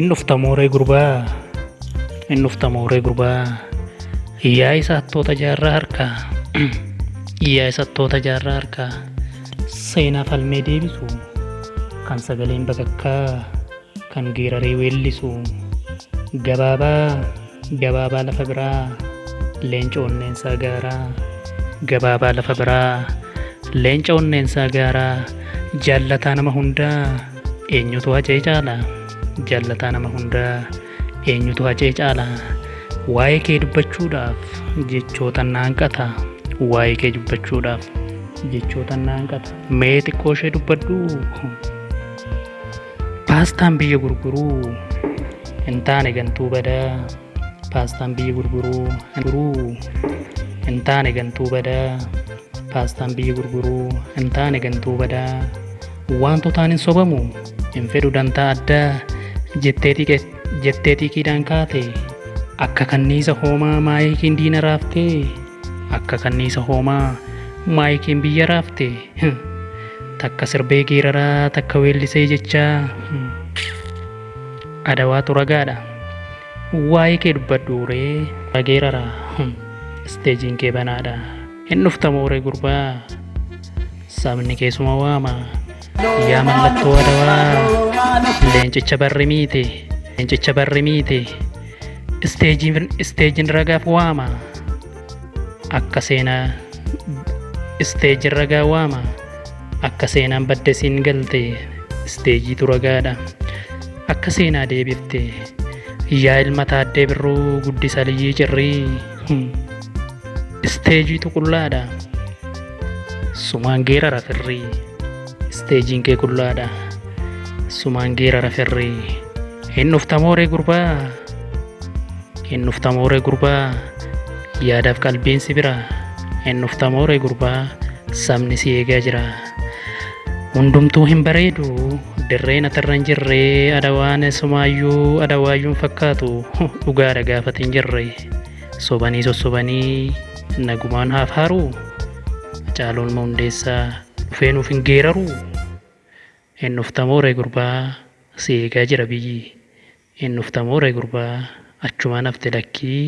In dhufta mooree gurbaa in dhufta mooree gurbaa yaa isa hattoota jaarraa harkaa yaa isa hattoota jaarraa harkaa seenaa falmee deebisu kan sagaleen bakakkaa Kan geeraree weellisu Gabaabaa gabaabaa lafa biraa Leenca onneensaa gaaraa Gabaabaa lafa biraa Leenca onneensaa gaaraa Jaallataa nama hundaa Eenyutu hacee caala Jaallataa nama hundaa Eenyutu hacee caala Waa'ee kee dubbachuudhaaf Jechootan na hanqata Waa'ee kee dubbachuudhaaf Jechootan na hanqata Mee xiqqoo ishee dubbadhuu Paastaan biyya gurguruu hin taane gantuu badaa. Paastaan biyya gurguruu hin taane gantuu badaa. Paastaan biyya gurguruu hin taane gantuu badaa. Wantootaan hin sobamu hin fedhu dantaa addaa jettee xiiqiidhaan kaate. Akka kanniisa hoomaa maayikiin diina raaftee. Akka kanniisa hoomaa maayikiin biyya raafte. Takka sirbee geeraraa takka weellisee jechaa. Adawaatu ragaadha. Waa'ee kee dubbadhu ree rageeraraa. Isteejiin kee banaadha. Hin dhufta mooree gurbaa. Sabni keessuma waama. Yaa mallattoo adawaa leencicha barri miite leencicha barri miite isteejiin isteejiin ragaaf waama akka seenaa isteejiin ragaa waama akka seenaan badde siin galte isteejiitu ragaadha akka seenaa deebifte yaa ilma taaddee birruu guddisa liyyii cirrii. Isteejii tuqullaadha. Sumaan geerara firrii. Isteejiin kee qullaadha. Sumaan geerara firrii. Hin dhuftamooree gurbaa. Hin dhuftamooree gurbaa. Yaadaaf qalbiin si bira. Hin dhuftamooree gurbaa. Sabni si eegaa jira. Hundumtuu hin bareedu. Dirreen atarra hin jirre. Adawaan sumaayyuu adawaayyuu hin fakkaatu. Dhugaadha gaafati hin jirre. Sobanii sossobanii nagumaan haaf haaruu Hacaaluun Hundeessaa dhufee nuuf hin geeraruu Hin dhuftamoo ree gurbaa si eegaa jira biyyi Hin dhuftamoo ree gurbaa achumaan hafte lakkii